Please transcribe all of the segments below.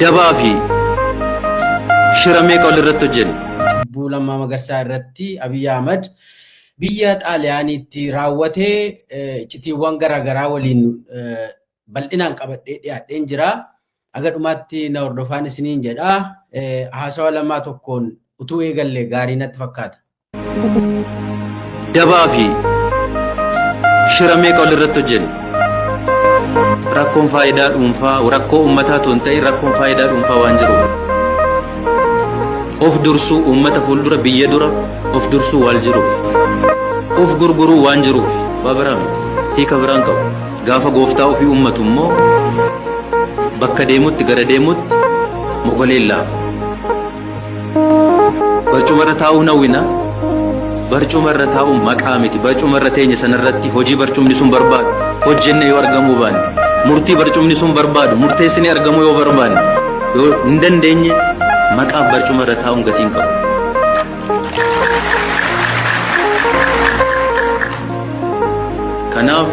Dabaa fi shira meeqa walirratti hojjenne? Cubbuu Lammaa Magarsaa irratti Abiy Ahmad biyya Xaaliyaaniitti raawwate iccitiiwwan garaa garaa waliin bal'inaan qabadhee dhiyaadheen jira. Haga dhumaatti na hordofaan isiniin jedha. Haasawa lamaa tokkoon utuu eegallee gaarii natti fakkaata. Dabaa fi shira meeqa walirratti hojjenne? Rakkoon faayidaa dhuunfaa rakkoo uummataa tun ta'e rakkoon faayidaa dhuunfaa waan jiruuf. Of dursuu uummata fuuldura biyya dura of dursuu waan jiruuf. Of gurguruu waan jiruuf waa biraa miti. Hiika biraan qabu. Gaafa gooftaa ofii uummatu immoo bakka deemutti gara deemutti mogoleen laafa. Barcuma irra taa'uu hin hawwina. Barcuma irra taa'uun maqaa miti. Barcuma irra teenya sanarratti hojii barcumni sun barbaadu hojjenne yoo argamuu baanne. Murtii barcumni sun barbaadu murteessinee argamuu yoo barbaanne. Yoo hin dandeenye maqaaf barcuma irra taa'uun gatii hin qabu. Kanaaf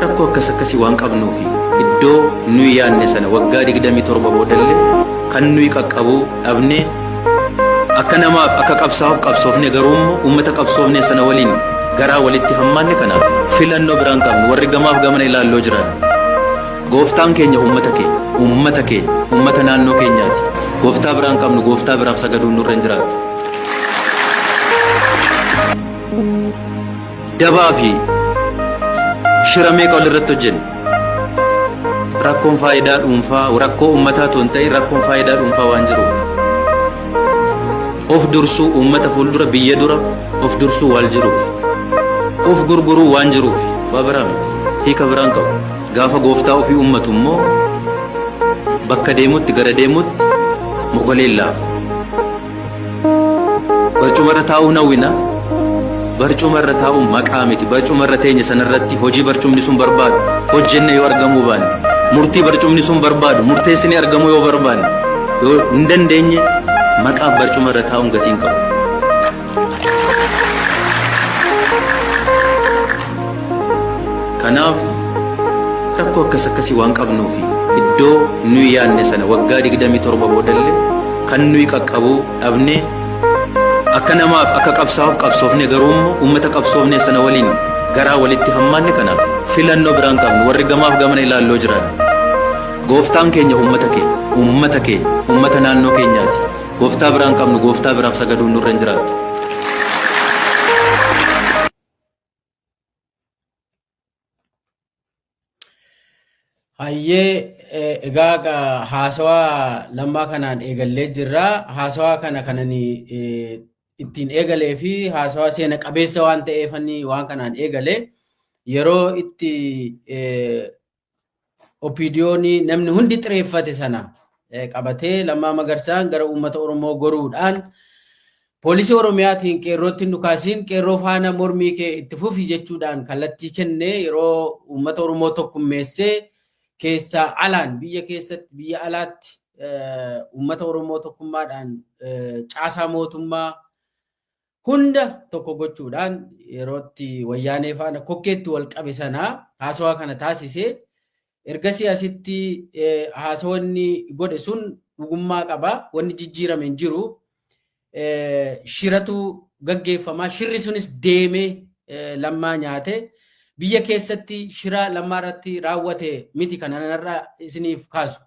rakkoo akkas akkasii waan qabnuufi iddoo nuyi yaadne sana waggaa 27 boodallee Kan nuyi qaqqabu dhabnee akka namaaf akka qabsaa'uuf qabsoofne garuu immoo uummata qabsoofne sana waliin garaa walitti hammaanne kana filannoo biraan qabnu warri gamaaf gamana ilaalloo jiran gooftaan keenya uummata keenya uummata keenya uummata naannoo keenyaati gooftaa biraan qabnu gooftaa biraaf sagaduun nurra hin jiraatu. Dabaa fi shira meeqa walirratti hojjenne? Rakkoon faayidaa dhuunfaa rakkoo uummataa otoo hin ta'in rakkoon faayidaa dhuunfaa waan jiruuf. Of dursuu uummata fuuldura biyya dura of dursuu waan jiruuf. Of gurguruu waan jiruuf waa biraa miti. Hiika biraan qabu. Gaafa gooftaa ofii uummatu immoo bakka deemutti gara deemutti mogoleen laafa. Barcuma irra taa'uu hawwina. Barcuma irra taa'uun maqaa miti. Barcuma irra teenya sanarratti hojii barcumni sun barbaadu hojjenne yoo argamuu baanne murtii barcumni sun barbaadu murteessine argamuu yoo barbaanne yoo hin dandeenye maqaaf barcuma irra taa'uun gatii hin qabu. Kanaaf rakkoo akkas akkasii waan qabnuufi iddoo nuyi yaadne sana waggaa 27 boodallee kan nuyi qaqqabu dhabnee akka namaaf akka qabsaa'uuf qabsoofne garuu immoo uummata qabsoofne sana waliin garaa walitti hammaanne kanaaf filannoo biraan qabnu warri gamaaf gamana ilaalloo jiran gooftaan keenya uummata keenya uummata keenya uummata naannoo keenyaati gooftaa biraan qabnu gooftaa biraaf sagaduun nurra hin jiraatu. Hayyee eh, egaa ga- haasawaa lammaa kanaan eegallee jirra. Haasawaa kana kanani eh, ittiin eegalee fi haasawaa seena qabeessa waan ta'eefani waan kanaan eegale yeroo itti eh, OPDOn namni hundi xireeffate sana qabatee Lammaa Magarsaan gara uummata Oromoo goruudhaan poolisii Oromiyaatiin qeerrootti hin dhukaasiin qeerroo faana mormii kee itti fufi jechuudhaan kallattii kenne yeroo uummata Oromoo tokkummeessee keessaa alaan biyya keessatti biyya alaatti uummata Oromoo tokkummaadhaan caasaa mootummaa hunda tokko gochuudhaan yerootti wayyaanee faana kokkeetti wal qabe sanaa haasawaa kana taasisee ergasii asitti haasawanni godhe sun dhugummaa qaba wanni jijjiirame hin jiru shiratu gaggeeffamaa shirri sunis deemee lammaa nyaate biyya keessatti shira lammaa irratti raawwate miti kananarra isiniif kaasu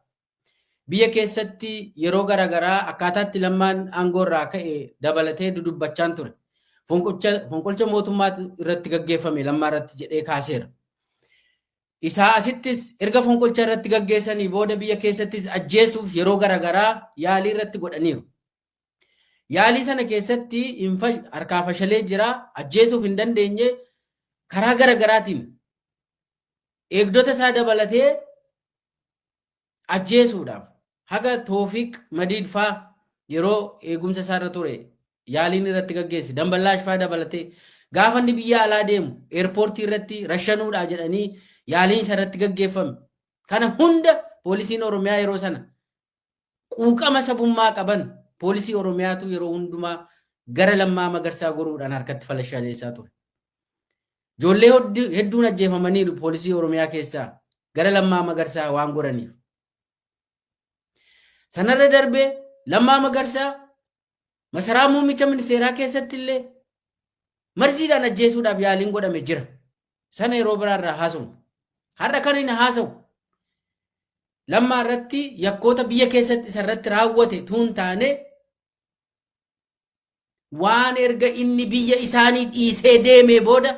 Biyya keessatti yeroo gara garaa akkaataa itti Lammaan aangoo irraa ka'e dabalatee dudubbachaan ture. Fonqolcha fonqolcha mootummaa irratti gaggeeffame Lammaa irratti jedhee kaaseera. Isaa asittis erga fonqolcha irratti gaggeessanii booda biyya keessattis ajjeesuuf yeroo gara garaa yaalii irratti godhaniiru. Yaalii sana keessatti hin fash- harkaa fashalee jira, ajjeesuuf hin dandeenye, karaa gara garaatiin eegdota isaa dabalatee ajjeesuudhaaf haga Toofiq Madiid faa yeroo eegumsa isaarra ture yaaliin irratti gaggeesse Damballaash faa dabalatee gaafa inni biyya alaa deemu eerpoortii irratti rashanuudhaa jedhanii yaaliin isa irratti gaggeeffame. Kana hunda poolisiin Oromiyaa yeroo sana quuqama sabummaa qaban poolisii Oromiyaatu yeroo hundumaa gara lammaa magarsaa goruudhaan harkatti falashaleessaa ture. Ijoollee hedduun ajjeefamaniiru poolisii Oromiyaa keessaa gara lammaa magarsaa waan goraniif. Sanarra darbee lammaa magarsaa Masaraa muummicha ministeeraa keessatti illee marziidhaan ajjeesuudhaaf yaaliin godhame jira. Sana yeroo biraa irraa haasofna. Har'a kan hin haasawu. Lammaa irratti yakkoota biyya keessatti isa irratti raawwate tuun taane waan erga inni biyya isaanii dhiisee deemee booda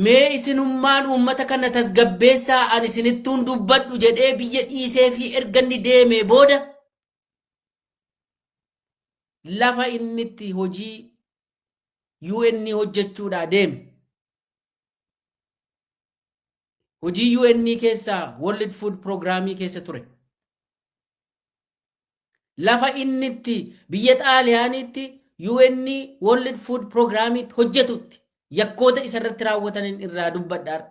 Mee isinummaan uummata kana tasgabbeessaa ani isinittuun dubbadhu jedhee biyya dhiisee fi erga inni deemee booda lafa inni itti hojii UN hojjechuudhaa deeme. hojii UN keessaa World Food Programmii keessa ture. Lafa inni itti biyya Xaaliyaaniitti UN World Food Programmiitti hojjetutti yakkoota isa irratti raawwataniin irraa dubbadhaar.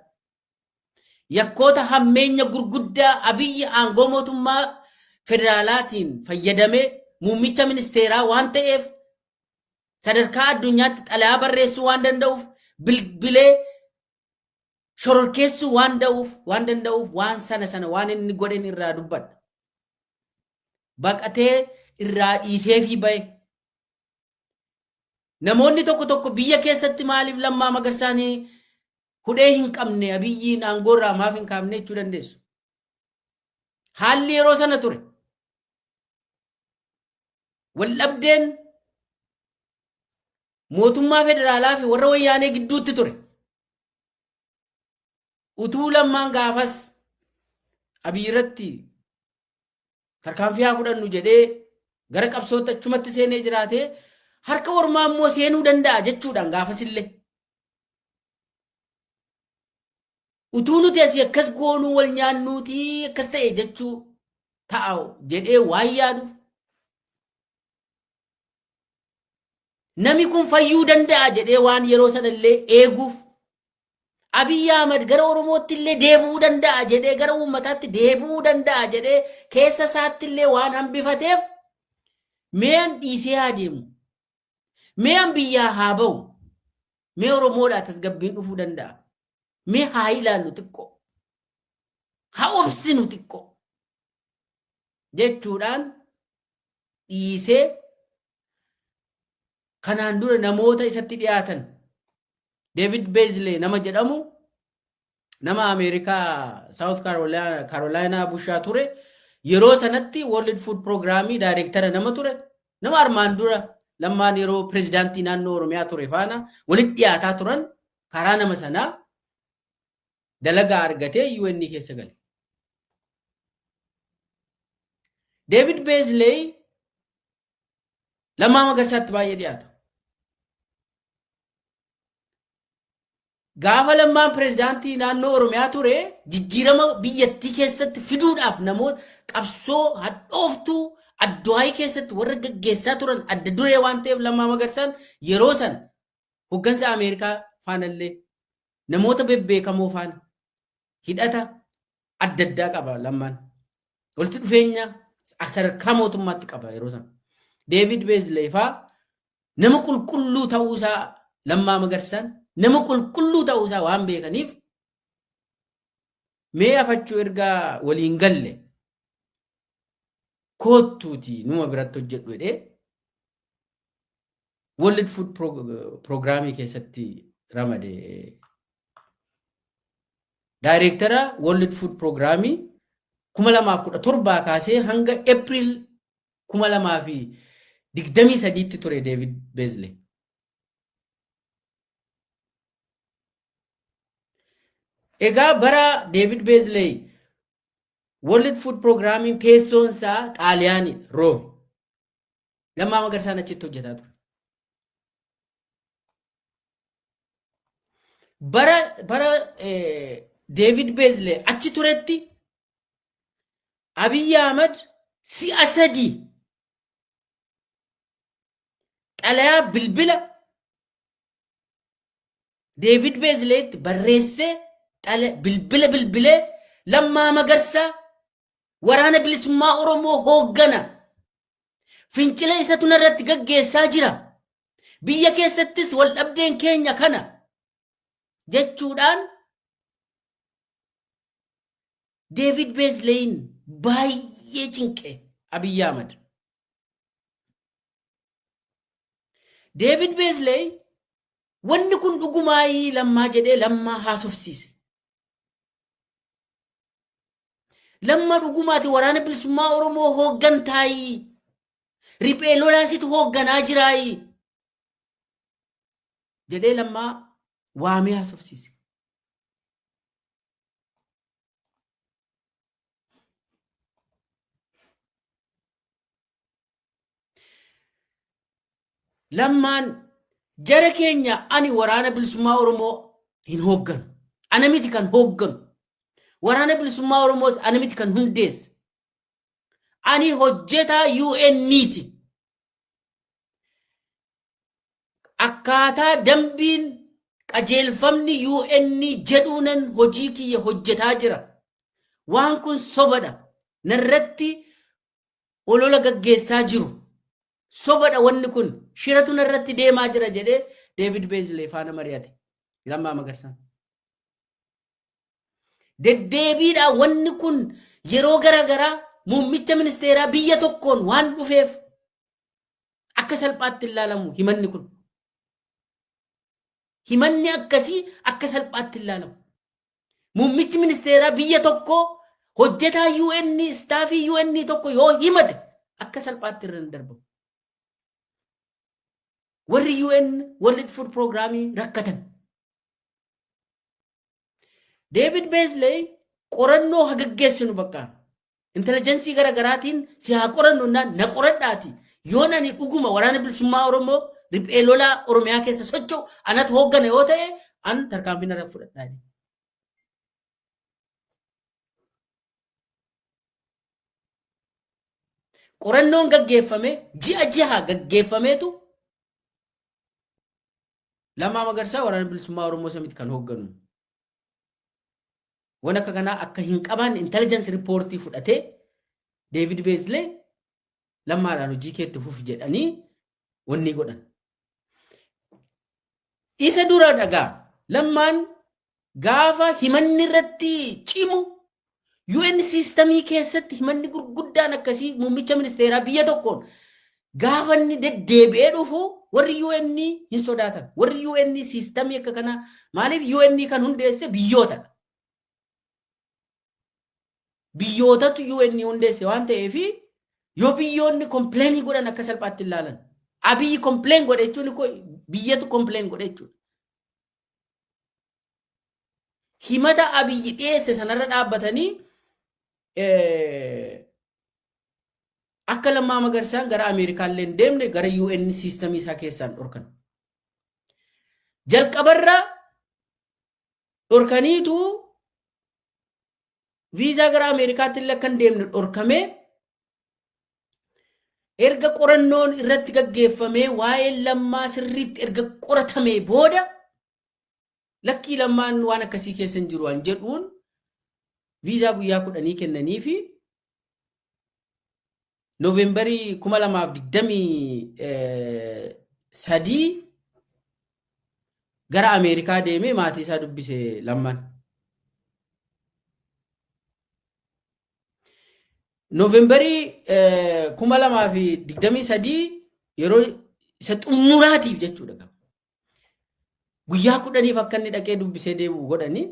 Yakkoota hammeenya gurguddaa abiyyi aangoo mootummaa federaalaatiin fayyadamee muummicha ministeeraa waan ta'eef sadarkaa addunyaatti xalayaa barreessuu waan danda'uuf bilbilee shororkeessuu waan da'uuf waan danda'uuf waan sana sana waan inni godhen irraa dubbadha. Baqatee irraa dhiiseefii ba'e. Namoonni tokko tokko biyya keessatti maaliif lammaa magarsaanii hudhee hin qabne abiyyiin aangoorraa maaf hin kaafne jechuu dandeessu. Haalli yeroo sana ture. Waldhabdeen mootummaa federaalaa fi warra wayyaanee gidduutti ture. Utuu lammaan gaafas Abiy irratti tarkaanfii haa fudhannu jedhee gara qabsootti achumatti seenee jiraatee harka ormaa immoo seenuu danda'a jechuudhaan gaafasillee. Utuu nuti asii akkas goonuu wal nyaannuutii akkas ta'e jechuu ta'a jedhee waan yaaduuf Nami kun fayyuu danda'a jedhee waan yeroo sana illee eeguuf Abiy Ahmad gara Oromootti illee deebi'uu danda'a jedhee gara uummataatti deebi'uu danda'a jedhee keessa isaatti illee waan hambifateef mee an dhiisee haa deemu. Mee an biyyaa haa ba'u. Mee Oromoodhaa tasgabbiin dhufuu danda'a. Mee haa ilaallu xiqqoo. Haa obsinu xiqqoo. jechuudhaan dhiisee kanaan dura namoota isatti dhiyaatan David Beasley nama jedhamu nama Ameerikaa South Carolina- Carolina bushaa ture yeroo sanatti World Food Programmii daayireektara nama ture nama armaan dura lammaan yeroo pirezidaantii naannoo Oromiyaa ture faana walitti dhiyaataa turan karaa nama sanaa dalagaa argatee UN keessa gale. Deevid Beezleey Lammaa Magarsaatti baay'ee dhiyaata. Gaafa lammaan pirezidaantii naannoo Oromiyaa ture jijjiirama biyyattii keessatti fiduudhaaf namoota qabsoo hadhooftuu adduwaayii keessatti warra gaggeessaa turan adda duree waan ta'eef lammaa magarsaan yeroo san hoggansa Ameerikaa faanallee namoota bebbeekamoo faana hidhata adda addaa qaba lammaan. Walitti dhufeenya sadarkaa mootummaatti qaba yeroo sana. Deevid Beezlee faa nama qulqulluu ta'uu isaa lammaa magarsaan nama qulqulluu ta'uu isaa waan beekaniif mee afachuu erga waliin galle koottuuti numa biratti hojjedhu jedhee World Food Program keessatti ramade daayireektara World Food Program 2017 kaasee hanga April 2023tti ture David Beasley. Egaa bara David Beasley World Food Programmiin teessoon isaa Xaaliyaani Room. Lammaa Magarsaan achitti hojjetaa ture. Bara bara Deevid Beezlee achi turetti Abiyyi Ahmad si'a sadii xalayaa bilbila Deevid Beezleetti barreessee bilbila bilbilee lammaa magarsaa waraana bilisummaa Oromoo hooggana. Fincila isatu narratti gaggeessaa jira. Biyya keessattis wal dhabdeen keenya kana jechuudhaan Deevid Beesleyin baay'ee cinqe Abiyyi Ahmad. Deevid Beesley wanni kun dhugumaayii lammaa jedhee lammaa haasofsiise. Lamma dhugumaati waraana bilisummaa Oromoo hooggantaayi. Riphee lolaasitu hoogganaa jiraayi. Jedhee lammaa waamee haasofsiise. Lammaan jara keenya ani waraana bilisummaa Oromoo hin hoogganu. Ana miti kan hoogganu. Waraana bilisummaa Oromoos ana miti kan hundeesse. Ani hojjetaa UN'ti. Akkaataa dambiin qajeelfamni UN jedhuunan hojii kiyya hojjetaa jira. Waan kun sobadha. Narratti olola gaggeessaa jiru. Sobadha wanni kun shiratu narratti deemaa jira jedhee Deevid Beezlee faana mari'ate. Lammaa Magarsaan. Deddeebiidha wanni kun yeroo garaagaraa muummicha ministeeraa biyya tokkoon waan dhufeef akka salphaatti ilaalamu himanni kun. Himanni akkasii akka salphaatti ilaalamu. Muummichi ministeeraa biyya tokkoo hojjetaa UN istaafii UN tokko yoo himate akka salphaatti irra hin darbamu. Warri UN World Food Programii rakkatan. Deevid Beesley qorannoo hagaggeessinu bakka intelligensii gara garaatiin si haa qorannu naan na qoradhaati yoon ani dhuguma waraana bilisummaa oromoo riphee lolaa oromiyaa keessa socho'u anatu hooggana yoo ta'e an tarkaanfii narra fudhadhaa jedhe. qorannoon gaggeeffame ji'a ji'a gaggeeffameetu Lammaa Magarsaa waraana bilisummaa Oromoo isa miti kan hoogganu. Waan akka kanaa akka hin qabaanne intelligence report fudhatee David Beasley lammaadhaan hojii keetti fufi jedhanii wanni godhan. Isa dura dhagaa lammaan gaafa himanni irratti cimu UN siistamii keessatti himanni gurguddaan akkasii muummicha ministeeraa biyya tokkoon gaafa inni deddeebi'ee dhufu warri UN hin sodaatan. Warri UN siistamii akka kanaa maaliif UN kan hundeesse biyyootadha. Biyyootatu UN hundeesse waan ta'eef yoo biyyoonni kompleenii godhan akka salphaatti hin laalan. Abiyyi kompleen godhe jechuun biyyetu kompleen godhe jechuudha. himata abiyyi dhiyeesse sanarra dhaabbatanii akka lammaa magarsaan gara ameerikaa illee hin deemne gara un siistamii isaa keessaan dhorkan jalqabarra dhorkaniitu viizaa gara ameerikaatti illee akka hin deemne dhorkame erga qorannoon irratti gaggeeffamee waa'ee lammaa sirriitti erga qoratamee booda Lakkii lammaan waan akkasii keessa hin jiru an jedhuun viizaa guyyaa kudhanii kennanii fi Noovembarii kuma lamaaf digdamii sadii gara Ameerikaa deemee maatii isaa dubbise lamman. Noovembarii kuma lamaa fi digdamii sadii yeroo isa xumuraatiif jechuudha. Guyyaa kudhaniif akka inni dhaqee dubbisee deebi'u godhanii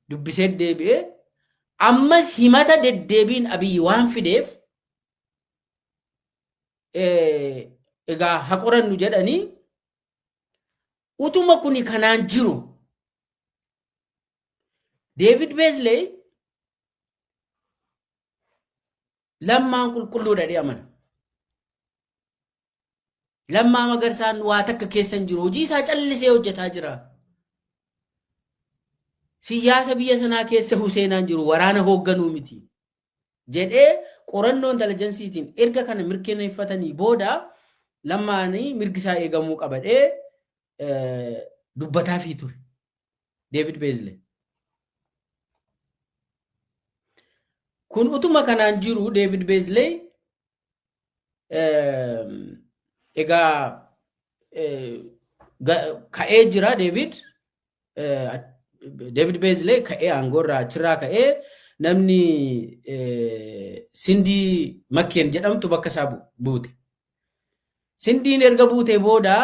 dubbisee deebi'ee ammas himata deddeebiin abiyyi waan fideef egaa ha qorannu jedhanii utuma kuni kanaan jiru Deevid Beezleey Lammaan qulqulluudha jedhee amana. Lammaa magarsaan waa takka keessa hin jiru. Hojii isaa callisee hojjetaa jira. Siyaasa biyya sanaa keessa Huseenaan jiru waraana hoogganuu miti. Jedhee qorannoo intalajansiitiin erga kana mirkaneeffatanii booda lammaanii mirgi isaa eegamuu qabadhee dubbataafii ture. Deevid Beezle. Kun utuma kanaan jiru Deevid Beezle egaa ka'ee jira Deevid. Deevid Beezle ka'ee aangoorraa achirraa ka'ee namni Sindii Makkeen jedhamtu bakka isaa buute. Sindiin erga buutee booda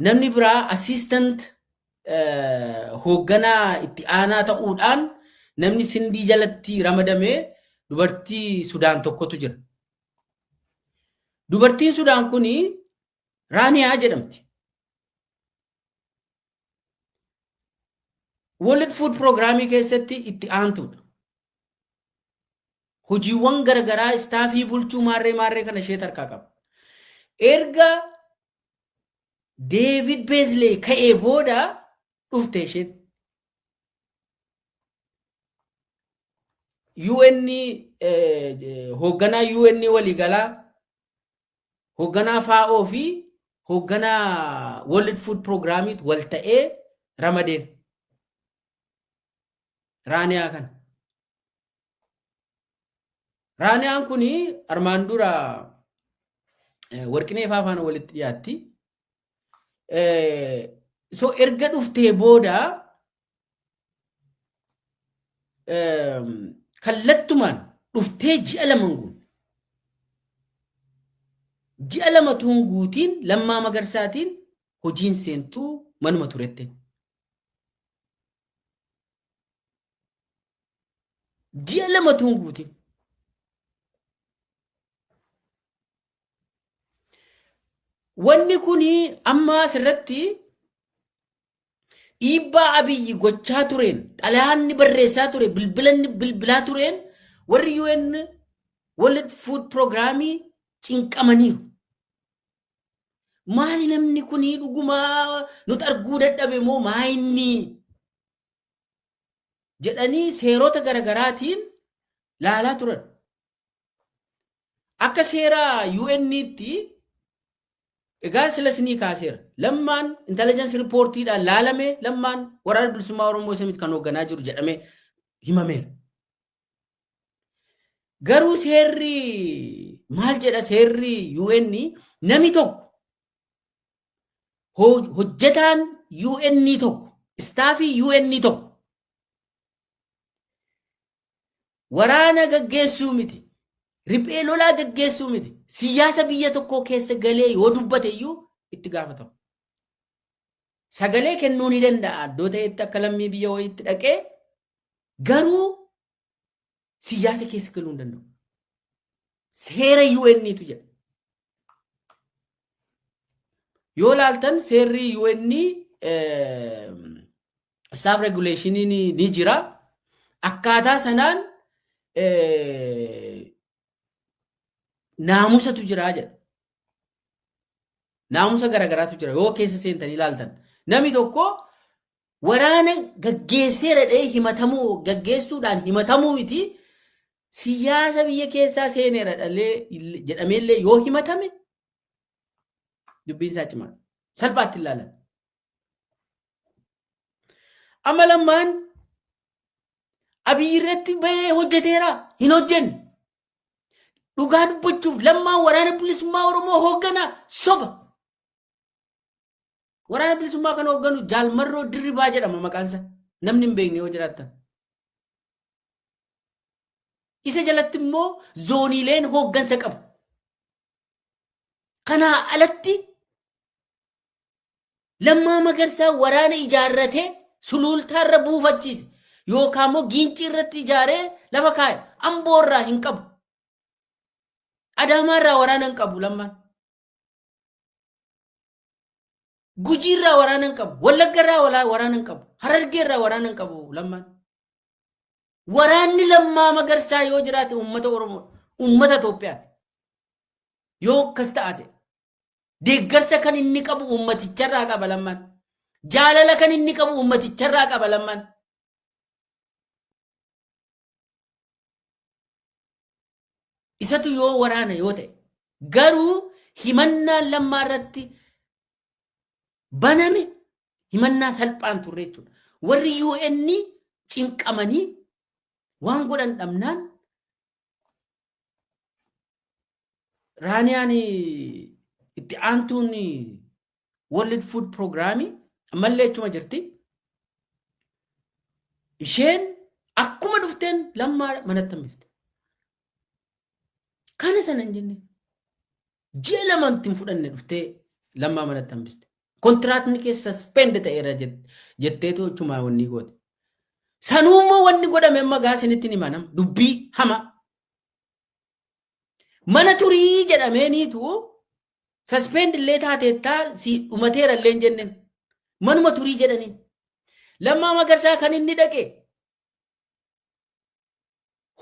Namni biraa assistant hoogganaa itti aanaa ta'uudhaan namni sindii jalatti ramadame dubartii Sudaan tokkotu jira. Dubartiin Sudaan kun Raaniyaa jedhamti. World Food Program keessatti itti aantuudha. Hojiiwwan garagaraa istaafii bulchuu maarree maarree kana ishee tarkaa qaba. Erga Deevid Beezlee ka'ee booda dhufte isheen. UN hoogganaa UN waliigalaa hoogganaa FAO fi hoogganaa World Food Programmiit wal ta'ee ramadeen. Raaniyaa kana. Raaniyaan kun armaan dura warqinee faafaan walitti dhiyaatti. Eh, so erga dhuftee booda ehm, kallattumaan dhuftee ji'a lama hin guunne. Ji'a lama utuu hin guutiin lammaa magarsaatiin hojiin seentuu manuma turette. Ji'a lama utuu hin guutiin. Wanni kun amma asirratti dhiibbaa abiyyi gochaa tureen xalayaanni barreessaa ture bilbilanni bilbilaa tureen warri UN World Food Programii cinqamaniiru. Maali namni kun dhugumaa nuti arguu dadhabe moo maa inni jedhanii seerota garagaraatiin laalaa turan. Akka seera UN'tti egaa sila sinii kaaseera. Lammaan intelligence riippoortiidhaan laalamee lammaan waraana bilisummaa Oromoo isa miti kan hoogganaa jiru jedhamee himameera. Garuu seerri maal jedha seerri UN nami tokko ho- hojjetaan UN tokko istaafii UN tokko Waraana gaggeessuu miti. Riphee lolaa gaggeessuu miti. Siyaasa biyya tokkoo keessa galee yoo dubbate iyyuu itti gaafatamu. Sagalee kennuu ni danda'a. Iddoo ta'etti akka lammii biyya wayiitti dhaqee garuu siyaasa keessa galuu hin danda'u. Seera UN'tu jedha. Yoo laaltan seerri UN eh, staff regulation ni jira akkaataa sanaan naamusatu jira jedha naamusa garagaraatu jira yoo keessa seentanii ilaaltan namni tokko waraana gaggeessee dhadhee himatamuu gaggeessuudhaan himatamuu miti siyaasa biyya keessaa seeneera dhalee jedhameellee yoo himatame dubbiin isaa cimaadha. Salphaatti ilaalan. Amma lammaan abiyyi irratti bahee hojjeteera hin hojjenne. Dhugaa dubbachuuf lammaan waraana bilisummaa Oromoo hooggana soba. Waraana bilisummaa kan hoogganu jaalmarroo dirribaa jedhama maqaansa. Namni hin beekne yoo jiraattan. Isa jalatti immoo zooniileen hooggansa qabu. Kanaa alatti Lammaa Magarsaa waraana ijaarratee suluultaarra buufachiise yookaan immoo giincii irratti ijaaree lafa kaa'e amboo irraa hin qabu. Adaamaa irraa waraana hin qabu lammaan. Gujii irraa waraana hin qabu. Wallagga irraa wala- waraana hin qabu. Harargee irraa waraana hin qabu lammaan. Waraanni lammaa magarsaa yoo jiraate uummata Oromoo uummata Itoophiyaati. Yoo akkas ta'ate Deeggarsa kan inni qabu uummaticharraa qaba lammaan. Jaalala kan inni qabu uummaticharraa qaba lammaan. Isatu yoo waraana yoo ta'e garuu himannaan lammaa irratti baname himannaa salphaan turre jechuudha. Warri UN cinqamanii waan godhan dhabnaan Raaniyaan itti aantuun World Food Program ammallee achuma jirti. Isheen akkuma dhufteen lammaa manatti hambifte. Kana sana hin jenne. Ji'a lamaan ittiin fudhanne dhuftee lammaa manatti hambiste. Kontiraatni kee saspend ta'eera jetteetu achumaa wanni goote. Sanuu immoo wanni godhame amma gaa isinitti hin himanam dubbii hama. Mana turii jedhameeniitu saspend illee taateettaa si dhumateera illee hin jenneen. Manuma turii jedhanii. Lammaa magarsaa kan inni dhaqe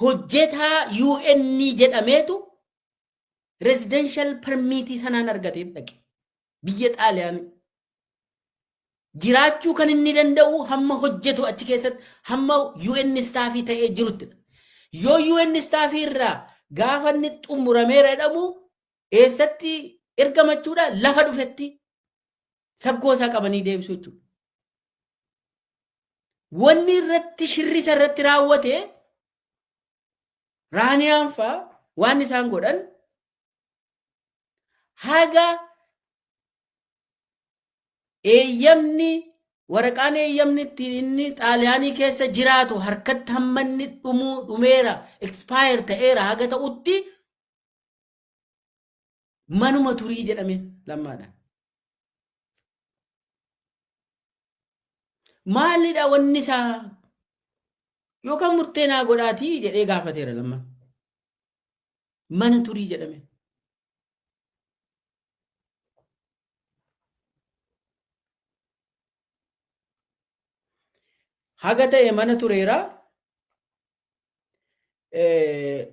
hojjetaa UN jedhameetu residential permiitii sanaan argatee dhaqe biyya xaaliyaanii jiraachuu kan inni danda'u hamma hojjetu achi keessatti hamma UN istaafii ta'ee jirutti yoo UN istaafii irraa gaafa inni xumurameera jedhamu eessatti ergamachuudha lafa dhufetti saggoo isaa qabanii deebisuu jechuudha. Wanni irratti shirrisa irratti raawwate Raaniyaan faa waan isaan godhan haga eeyyamni waraqaan eeyyamni ittiin inni xaaliyaanii keessa jiraatu harkatti hammanni dhumuu dhumeera expire ta'eera haga ta'utti Manuma turii jedhame lammaadha. Maalidha wanni isaa yookaan murtee naa godhaatii jedhee gaafateera lammaa. Mana turii jedhame. Haga ta'e mana tureera.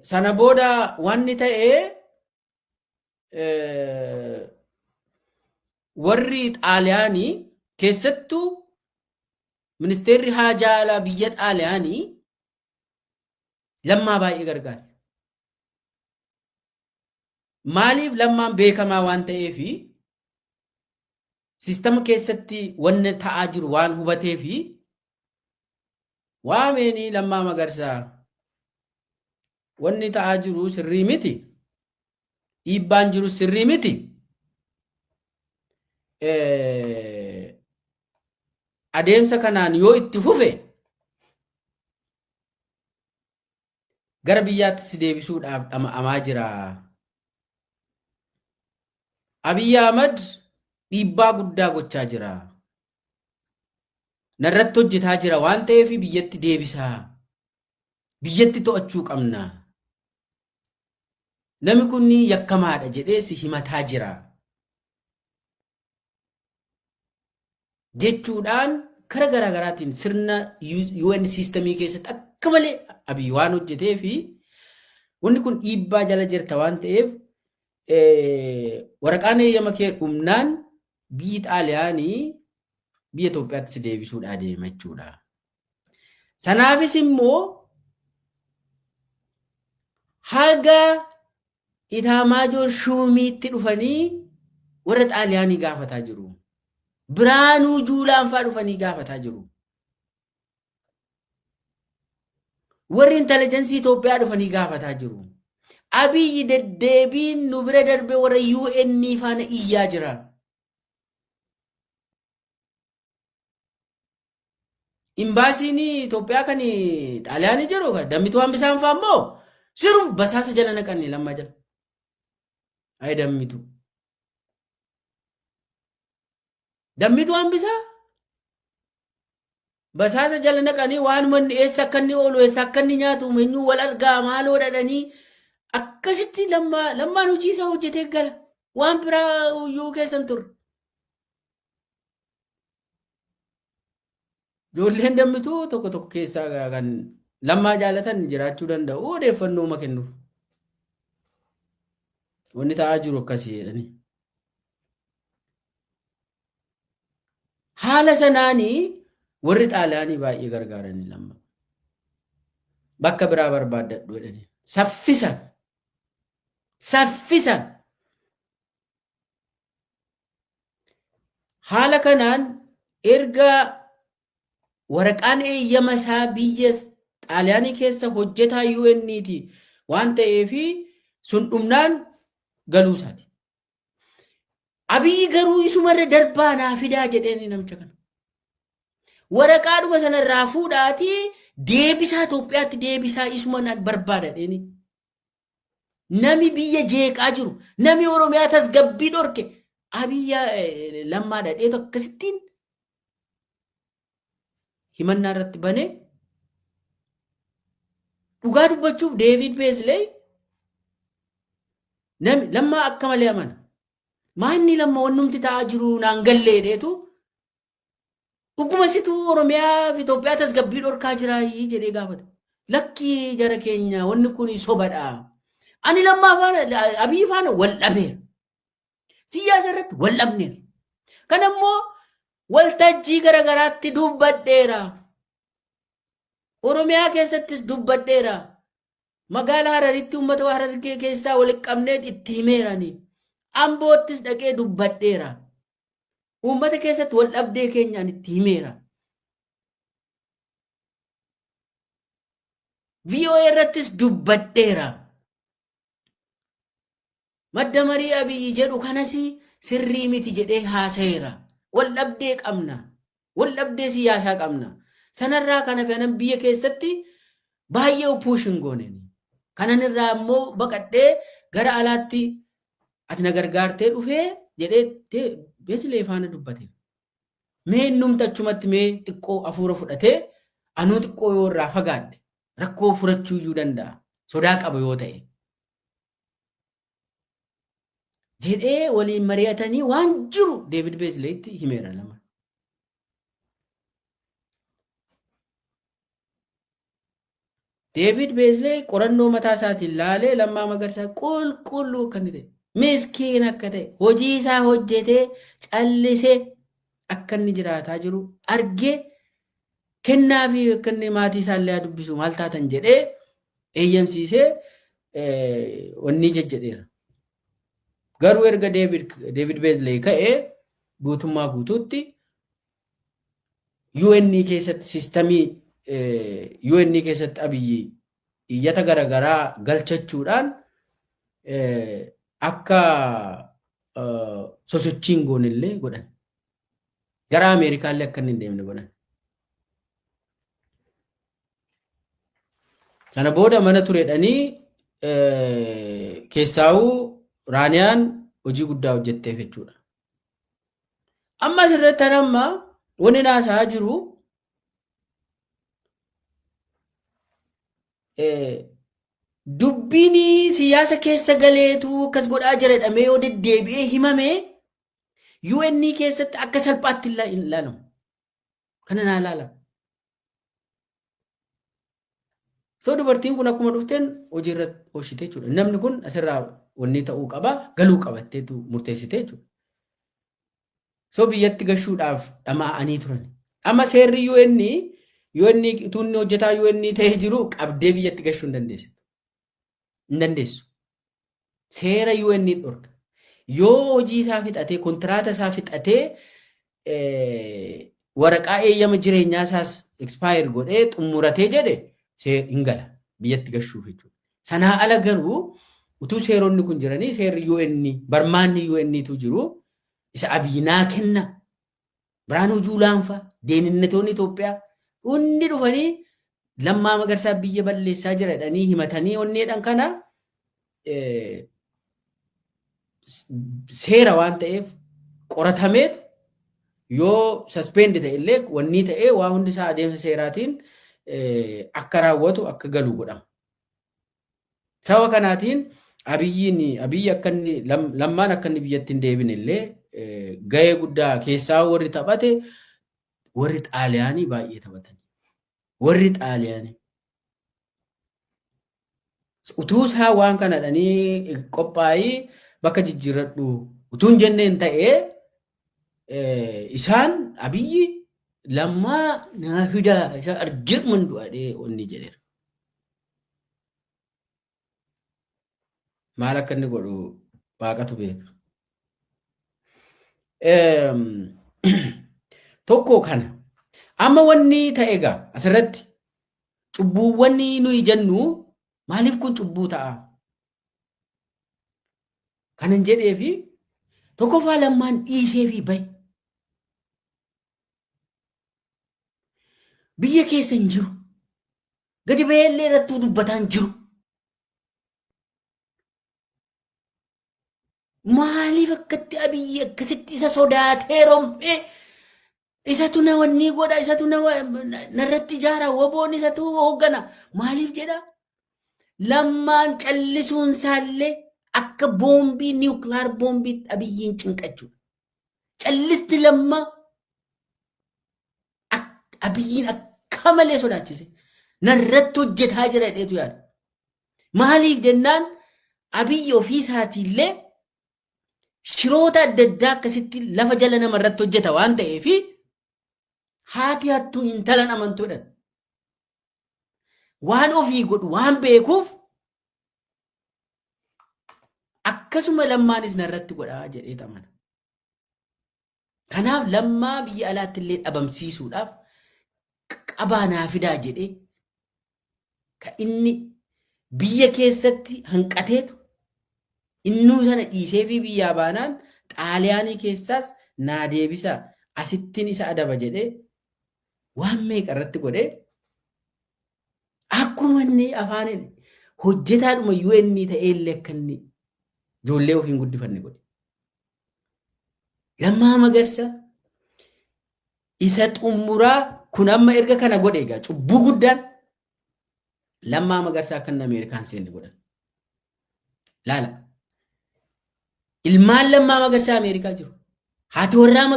Sana booda wanni ta'e warri xaaliyaanii keessattuu ministeerri haajaa alaa biyya xaaliyaanii lammaa baay'ee gargaare. Maaliif lammaan beekamaa waan ta'eef sistama keessatti wanni ta'aa jiru waan hubateef waameenii lammaa magarsaa wanni ta'aa jiru sirrii miti dhiibbaan jiru sirrii miti adeemsa kanaan yoo itti fufe gara biyyaatti si deebisuudhaaf dhama'amaa jira. Abiy Ahmad dhiibbaa guddaa gochaa jira. Narratti hojjetaa jira waan ta'eef biyyatti deebisaa. Biyyatti to'achuu qabna. Nami kun yakkamaadha jedhee si himataa jira. jechuudhaan kara garaa garaatiin sirna UN siistemii keessatti akka malee abiy waan hojjetee fi wanni kun dhiibbaa jala jirta waan ta'eef waraqaan eeyyama kee dhumnaan biyyi xaaliyaanii biyya Itoophiyaatti si deebisuudhaa deema jechuudha. Sanaafis immoo haga Itaamaajoor Shuumiitti dhufanii warra Xaaliyaanii gaafataa jiru. Biraanuu Juulaan fa'aa dhufanii gaafataa jiru. Warri intelligensii Itoophiyaa dhufanii gaafataa jiru. Abiyyi deddeebiin nu bira darbe warra UN faana iyyaa jira. Imbaasiin Itoophiyaa kan Xaaliyaanii jiru kan dammituu hambisaan fa'aa immoo sirum basaasa jala naqanne lammaa jala. Ayi dammitu. Dammitu hambisaa basaasa jala naqanii waan manni eessa akka inni oolu eessa akka inni nyaatu eenyuu wal argaa maaloo dhadhanii akkasitti lammaa lammaan hojii isaa hojjetee gala waan biraa iyyuu keessan turre. Ijoolleen dammituu tokko tokko keessaa kan lammaa jaalatan jiraachuu danda'u odeeffannoo uma kennuuf. Wanni ta'aa jiru akkasii jedhanii. Haala sanaanii warri xaalaanii baay'ee gargaaranii lamma. Bakka biraa barbaaddadhu jedhanii. Saffisa. Saffisa. Haala kanaan erga waraqaan eeyyama isaa biyya Xaaliyaanii keessa hojjetaa UN'ti waan ta'eef sun dhumnaan galuu isaati. Abiyyi garuu isumarra darbaa naa fidaa jedheen namicha kana. Waraqaadhuma sanarraa fuudhaatii deebisaa Itoophiyaatti deebisaa isuma nan barbaada jedheenii. Nami biyya jeeqaa jiru, nami Oromiyaa tasgabbii dhorke, abiyya lammaa dhadheetu akkasittiin himannaa irratti banee dhugaa dubbachuuf Deevid Beesley nami lammaa akka malee amana. Maanni lamma wannumti ta'aa jiru naan galleedheetu Dhuguma situ Oromiyaa fi Itoophiyaa tasgabbii dhorkaa jiraa jedhee gaafata. Lakkii jara keenya wanni kun sobadha. Ani lammaa faana abii faana wal dhabeera. Siyaasa irratti wal dhabneera. Kan ammoo waltajjii garaagaraatti dubbadheera. Oromiyaa keessattis dubbadheera. Magaalaa Hararitti uummata Harargee keessaa walitti qabnee itti himeerani. Amboottis dhaqee dubbadheera. Uummata keessatti wal dhabdee keenya ani itti himeera. VOA irrattis dubbadheera. Madda marii abiyyi jedhu kanas sirrii miti jedhee haasayeera. Wal dhabdee qabna. Wal dhabdee siyaasaa qabna. Sanarraa kan hafe anan biyya keessatti baay'ee puushin gooneen. Kanan irraa immoo baqadhee gara alaatti ati na gargaartee dhufee jedhee de- Besilee faana dubbate. Mee innumti achumatti mee xiqqoo hafuura fudhatee anuu xiqqoo yoo irraa fagaadhe rakkoo furachuu iyyuu danda'a. Sodaa qaba yoo ta'e. Jedhee waliin mari'atanii waan jiru Deevid Beesileetti himeera lama. Deevid Beezlee qorannoo mataa isaatiin laalee Lammaa Magarsaa qulqulluu akka inni ta'e, miskiin akka ta'e, hojii isaa hojjetee callisee akka inni jiraataa jiru argee kennaa fi akka inni maatii isaa illee haa dubbisu maal taatan jedhee eeyyamsiisee onnii jejjedheera. Garuu erga Deevid Beezlee ka'ee guutummaa guutuutti UN keessatti sistamii UN keessatti abiyyi iyyata garaagaraa galchachuudhaan akka sosochiin goonillee godhan. Gara Ameerikaallee akka inni hin deemne godhan. Sana booda mana turedhanii keessaawuu Raaniyaan hojii guddaa hojjetteef jechuudha. Amma asirratti an amma wanni naasaa jiru dubbiin siyaasa keessa galeetu akkas godhaa jira jedhamee yoo deddeebi'ee himame UN keessatti akka salphaatti hin ilaalamu. Kana naa ilaala. So dubartiin kun akkuma dhufteen hojiirra oolchite jechuudha. Namni kun asirraa wanni ta'uu qaba galuu qabatteetu murteessite jechuudha. So biyyatti gashuudhaaf dhamaa'anii turan. Amma seerri UN UN tuunni hojjetaa UN ta'ee jiru qabdee biyyatti gashuu hin dandeessitu. hin dandeessu. Seera UN ni dhorka. Yoo hojii isaa fixatee kontiraata isaa fixatee eh, waraqaa eeyyama jireenyaa isaas expire godhee xumuratee jedhe see- hin gala biyyatti gashuuf jechuudha. Sanaa ala garuu utuu seeronni kun jiranii seerri UN barmaanni UN tu jiru isa abiyyi naa kenna Biraanuu Juulaan fa'a deeninnatoonni Itoophiyaa hundi dhufanii lammaa magarsaa biyya balleessaa jira jedhanii himatanii onneedhan kana seera waan ta'eef qoratameetu yoo saspeendi ta'e illee wannii ta'ee waa hundi isaa adeemsa seeraatiin akka raawwatu akka galu godhama. Saba kanaatiin Abiyyiin Abiyyi akka inni lam- lammaan akka inni biyyatti hin deebine illee eh, gahee guddaa keessaa warri taphate warri xaaliyaanii baay'ee taphatan. Warri xaaliyaanii. Utuu isaa waan kanadhanii qophaa'ii bakka jijjiirradhu utuu hin jenneen ta'ee eh, isaan abiyyi lammaa naa fidaa isa argeeman du'adhee onni jedheera. maal akka inni godhu waaqatu beeka. Tokko kana amma wanni ta'e egaa asirratti cubbuuwwan nuyi jennu maaliif kun cubbuu ta'a? Kanan jedhee fi tokkoffaa lammaan dhiisee fi bahe. Biyya keessa hin jiru. Gadi baheellee irrattuu dubbataan jiru. Maaliif akkatti abiyyi akkasitti isa sodaatee rom'ee isatu na wannii godha isatu na wa- na- narratti ijaara woboon isatu hooggana maaliif jedha lammaan callisuun isaallee akka boombii niwukilaar boombii abiyyiin cinqachuudha. Callisti lammaa Ak- Abiyyiin akka malee sodaachise. Narratti hojjetaa jira jedheetu yaada. Maaliif jennaan abiyyi ofii isaatiillee shiroota adda addaa akkasitti lafa jala nama irratti hojjeta waan ta'eef haati hattuu hintalan amantuudha. Waan ofii godhu waan beekuuf akkasuma lammaanis narratti godhaa jedhee amana. Kanaaf lammaa biyya alaatti illee dhabamsiisuudhaaf qabaa naa fidaa jedhee ka inni biyya keessatti hanqateetu innuu sana dhiisee fi biyyaa baanaan xaaliyaanii keessaas naa deebisa asittiin isa adaba jedhee waan meeqa irratti godhee akkuma inni afaan hojjetaadhuma UN ta'ee illee akka inni ijoollee ofiin guddifanne godhe. Lammaa Magarsa isa xumuraa kun amma erga kana godhe egaa cubbuu guddaan Lammaa Magarsa akka inni Ameerikaan seenne godhan. Laala. Ilmaan Lammaa Magarsaa Ameerikaa jiru. Haati warraa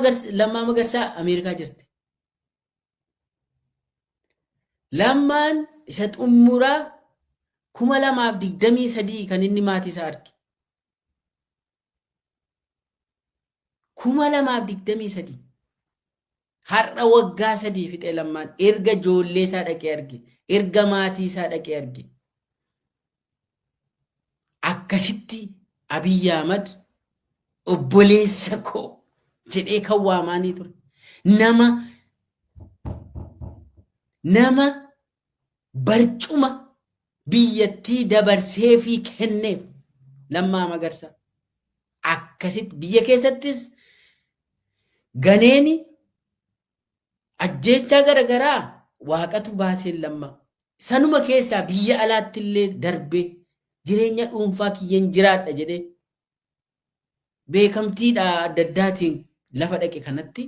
Lammaa Magarsaa Ameerikaa jirti. Lammaan isa xumuraa kuma lamaaf digdamii sadii kan inni maatii isaa arge. kuma lamaaf digdamii sadii har'a waggaa sadii fixee lammaan erga ijoollee isaa dhaqee arge erga maatii isaa dhaqee arge akkasitti Abiy Ahmad obboleessa koo jedhee kan waamaanii ture nama nama barcuma biyyattii dabarseefii kenneef lammaa magarsa akkasitti biyya keessattis ganeeni ajjeechaa garagaraa waaqatu baaseen lamma sanuma keessaa biyya alaatti illee darbee jireenya dhuunfaa kiyyan jiraadha jedhee beekamtiidha adda addaatiin lafa dhaqe kanatti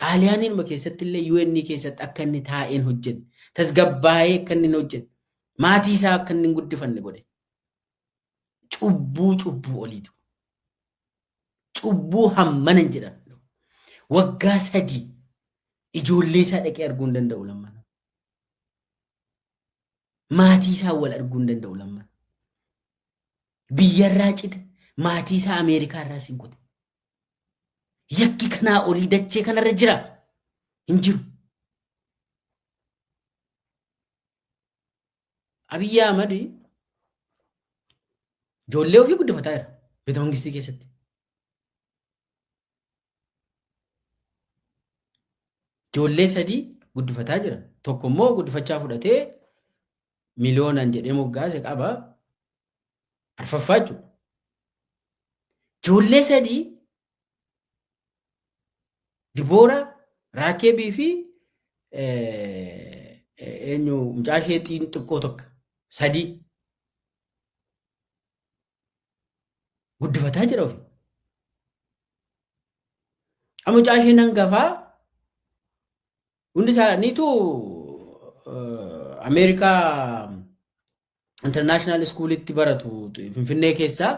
xaaliyaaniinuma keessatti illee UN keessatti akka inni taa'een hojjenne tasgabbaa'ee akka inni hin hojjenne maatii isaa akka inni hin guddifanne godhe cubbuu cubbuu oliitu cubbuu hammana hin jedhan waggaa sadii ijoollee isaa dhaqee arguu hin danda'u lammana maatii isaa wal arguu hin danda'u lammana biyyarraa cite maatii isaa Ameerikaa irraa sin kute. Yakki kanaa olii dachee kanarra jira hin jiru. Abiyyi Ahmad ijoollee ofii guddifataa jira beeta mangistii keessatti. Ijoollee sadii guddifataa jira. Tokko immoo guddifachaa fudhatee miliyoonaan jedhee moggaase qaba. Arfaffaa jechuudha. Ijoollee sadii Diboora, Raakeebii fi eenyu mucaa ishee xiqqoo tokko sadii guddifataa jira ofii. Mucaa isheen hangafaa Hundi isaaniitu Ameerikaa intarnaashinaal iskuulitti baratu Finfinnee keessaa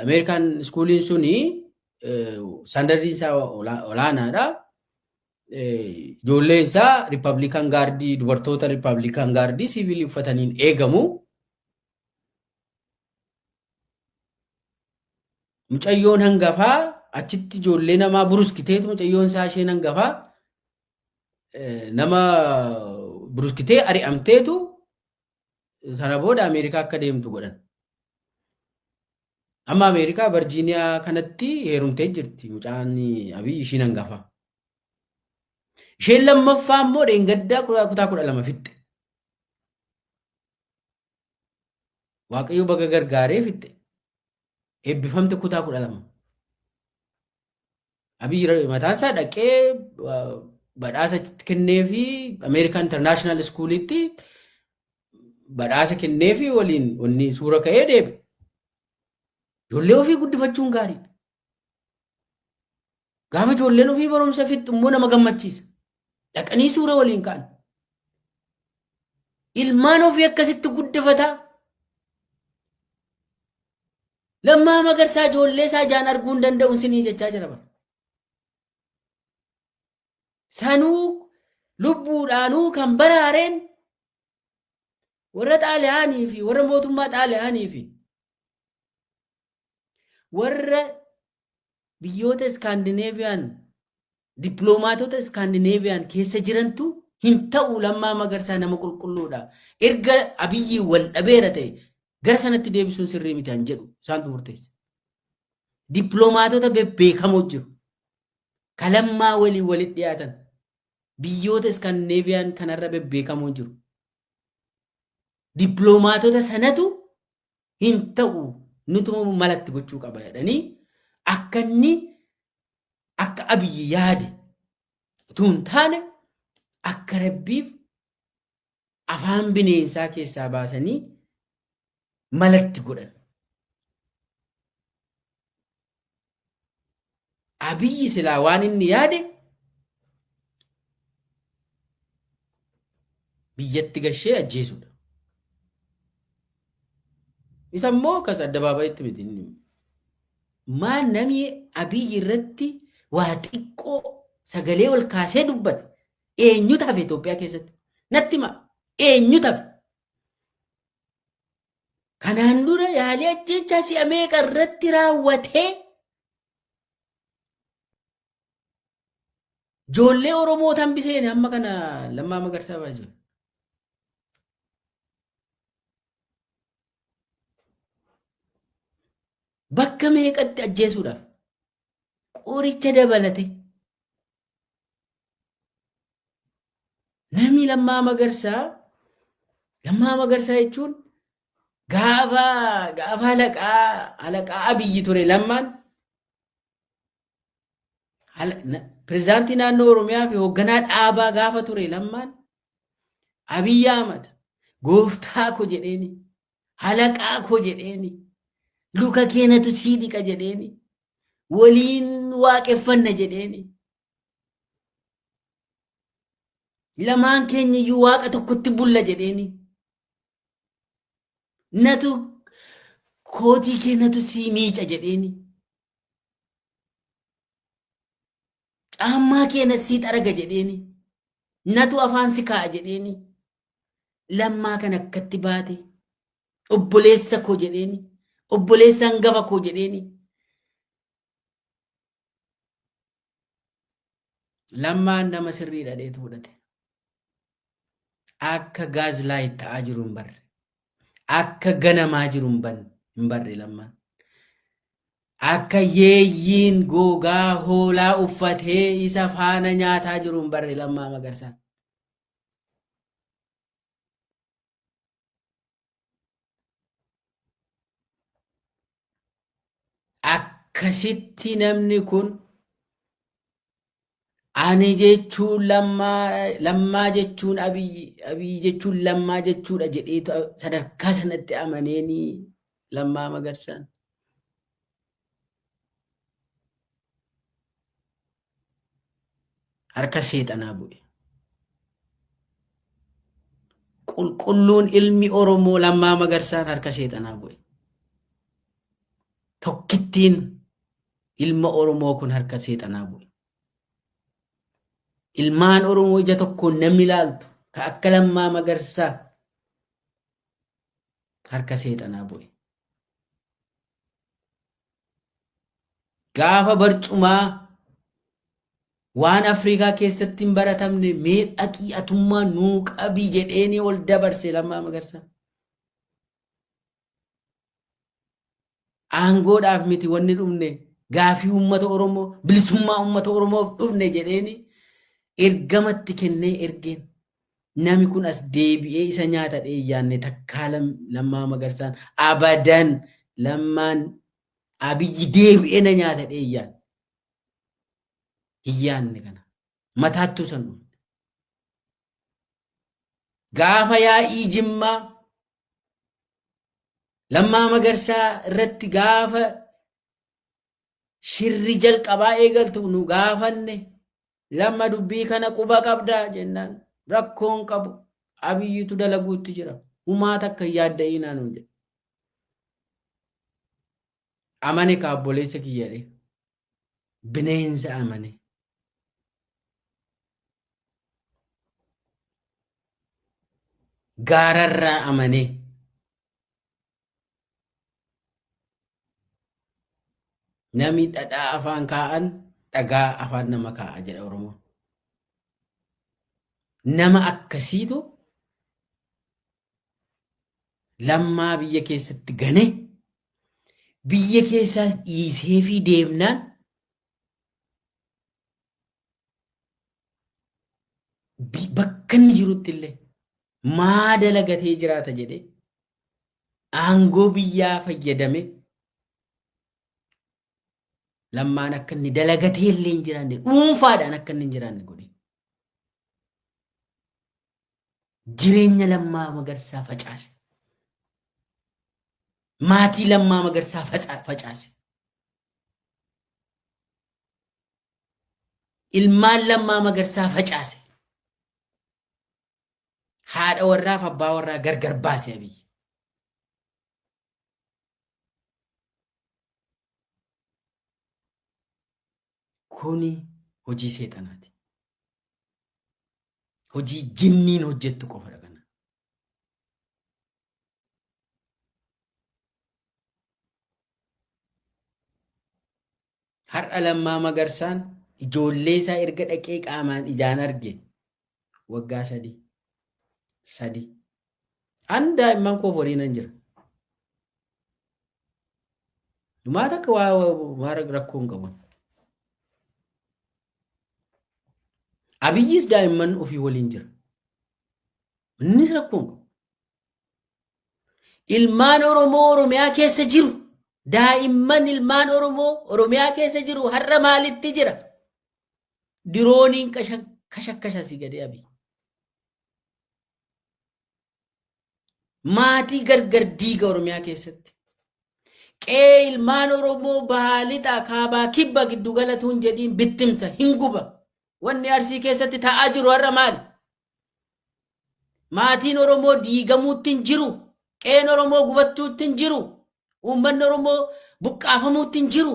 Ameerikaan iskuuliin suni standardiin isaa olaanaadha. Ijoolleen isaa riippablikaan gaardii dubartoota riippablikaan gaardii siivilii uffataniin eegamu. Mucayyoon hangafaa achitti ijoollee namaa buruskiteetu mucayyoon isaa isheen hangafaa eh, nama buruskitee ari'amteetu sana booda Ameerikaa akka deemtu godhan. Amma Ameerikaa Virjiiniyaa kanatti heerumtee jirti mucaan Abiy ishiin hangafaa. Isheen lammaffaa immoo dheengaddaa kutaa kutaa kudha lama fixxe. Waaqayyo baga gargaaree fixxe. Eebbifamte kutaa kudha lama. Abiyyi Ra- mataan isaa dhaqee uh, badhaasa kennee fi Ameerikaa Intarnaashinaal Iskuuliitti badhaasa kennee fi waliin wanni suura ka'ee deebi. Ijoollee ofii guddifachuun gaariidha. Gaafa ijoolleen ofii barumsa fixxu immoo nama gammachiisa. Dhaqanii suura waliin ka'an. Ilmaan ofii akkasitti guddifataa. Lammaa magarsaa ijoollee isaa ijaan arguu hin danda'u sinii jechaa jira bara. Sanuu lubbuudhaanuu kan baraareen warra xaaliyaanii fi warra mootummaa xaaliyaanii fi warra biyyoota iskaandineeviyaan dippiloomaatota iskaandineeviyaan keessa jirantu hin ta'u lammaa magarsaa nama qulqulluudha erga abiyyi wal dhabeera ta'e gara sanatti deebisuun sirrii miti an jedhu isaantu murteessa dippiloomaatota bebbeekamoo jiru ka lammaa waliin walitti dhiyaatan biyyoota iskaandineeviyaan kanarra bebbeekamoo jiru dippiloomaatota sanatu hin ta'u nutuma malatti gochuu qaba jedhanii akka inni akka abiyyi yaade utuu hin taane akka rabbiif afaan bineensaa keessaa baasanii malatti godhan. Abiyyi silaa waan inni yaade biyyatti gashee ajjeesuudha. Isa immoo kas addabaabayitti miti inni. Maa namni Abiyyi irratti waa xiqqoo sagalee ol kaasee dubbate eenyutu hafe Itoophiyaa keessatti? Natti hima eenyutu hafe? Kanaan dura yaalii ajjeechaa si'a meeqa irratti raawwatee ijoollee Oromoo tambiseen amma kana lammaa magarsaa baay'ee. Bakka meeqatti ajjeesuudhaaf qoricha dabalate Namni Lammaa Magarsaa Lammaa Magarsaa jechuun gaafa gaafa alaqaa alaqaa abiyyi ture lammaan pirezidaantii naannoo oromiyaa fi hoogganaa dhaabaa gaafa ture lammaan abiyyi ahmad gooftaa ko jedheeni halaqaa ko jedheeni luka keenatu sii dhiqa jedheeni waliin waaqeffanna jedheeni. Lamaan keenya iyyuu waaqa tokkotti bulla jedheeni. Natu kootii kee natu sii miica jedheeni. Caammaa kee natu sii xaraga jedheeni. Natu afaan si kaa'a jedheeni. Lammaa kan akkatti baate obboleessa koo jedheeni obboleessa hangafa koo jedheeni lammaan nama sirrii dhadheetu fudhate akka gaazlaayit ta'aa jiru hin barre akka ganamaa jiru hin ban- hin barre lammaan akka yeeyyiin gogaa hoolaa uffatee isa faana nyaataa jiru hin barre lammaa magarsaa akkasitti namni kun ani jechuun lammaa lammaa jechuun abiyyi abiyyi jechuun lammaa jechuudha jedhee ta- sadarkaa sanatti amaneeni lammaa magarsaan. harka seexanaa bu'e. Qulqulluun ilmi Oromoo lammaa magarsaan harka seexanaa bu'e. Tokkittiin ilma Oromoo kun harka seexanaa bu'e. Ilmaan Oromoo ija tokkoon namni ilaaltu ka akka lammaa magarsaa harka seexanaa bu'e. Gaafa barcumaa waan Afrikaa keessatti hin baratamne mee dhaqii atummaa nuu qabi jedheenii ol dabarse lammaa magarsaa. Aangoodhaaf miti wanni dhufne gaafii uummata Oromoo bilisummaa uummata Oromoof dhufne jedheenii ergamatti kennee ergeen. Nami kun as deebi'ee isa nyaata dheeyyaanne takkaa lammaa magarsaan abadan lammaan abiyyi deebi'ee na nyaata dheeyyaan. Hin yaanne kana. Mataattuu san dhufne. Gaafa yaa'ii jimmaa lammaa magarsaa irratti gaafa shirri jalqabaa eegaltu nu gaafanne lamma dubbii kana quba qabdaa jennaan rakkoon qabu abiyyitu dalaguutti jira humaa takka hin yaadda'iinaa nuun jedhe amane ka obboleessa kiyyadhe bineensa amane gaararraa amane Nami dhadhaa afaan kaa'an dhagaa afaan nama kaa'a jedha Oromoon. Nama akkasiitu lammaa biyya keessatti gane biyya keessaas dhiisee fi deemnaan bi- bakka inni jirutti illee maa dalagatee jiraata jedhee aangoo biyyaa fayyadame lammaan akka inni dalagatee illee hin jiraanne dhuunfaadhaan akka inni hin jiraanne godhe. Jireenya lammaa magarsaa facaase. Maatii lammaa magarsaa faca- facaase. Ilmaan lammaa magarsaa facaase. Haadha warraaf abbaa warraa gargar baase Abiy. Kuni hojii seexanaati. Hojii jinniin hojjettu qofadha kana. Har'a Lammaa Magarsaan ijoollee isaa erga dhaqee qaamaan ijaan arge waggaa sadii. Sadii. An daa'imman koo horii nan jira. Dhumaa takka waa waa rakkoo hin qabu. Abiyyis daa'imman ofii waliin jira. Innis rakkoo hin qabu. Ilmaan Oromoo Oromiyaa keessa jiru. Daa'imman ilmaan Oromoo Oromiyaa keessa jiru har'a maalitti jira? Dirooniin kashakkasha si gadee abii. Maatii gargar diiga Oromiyaa keessatti. Qe'ee ilmaan Oromoo bahaa lixaa kaabaa kibba giddu galatuun jedhiin bittimsa hin guba. Wanni Arsii keessatti ta'aa jiru har'a maali? Maatiin Oromoo diigamuutti hin jiru. Qeen Oromoo gubattuutti hin jiru. Uummanni Oromoo buqqaafamuutti hin jiru.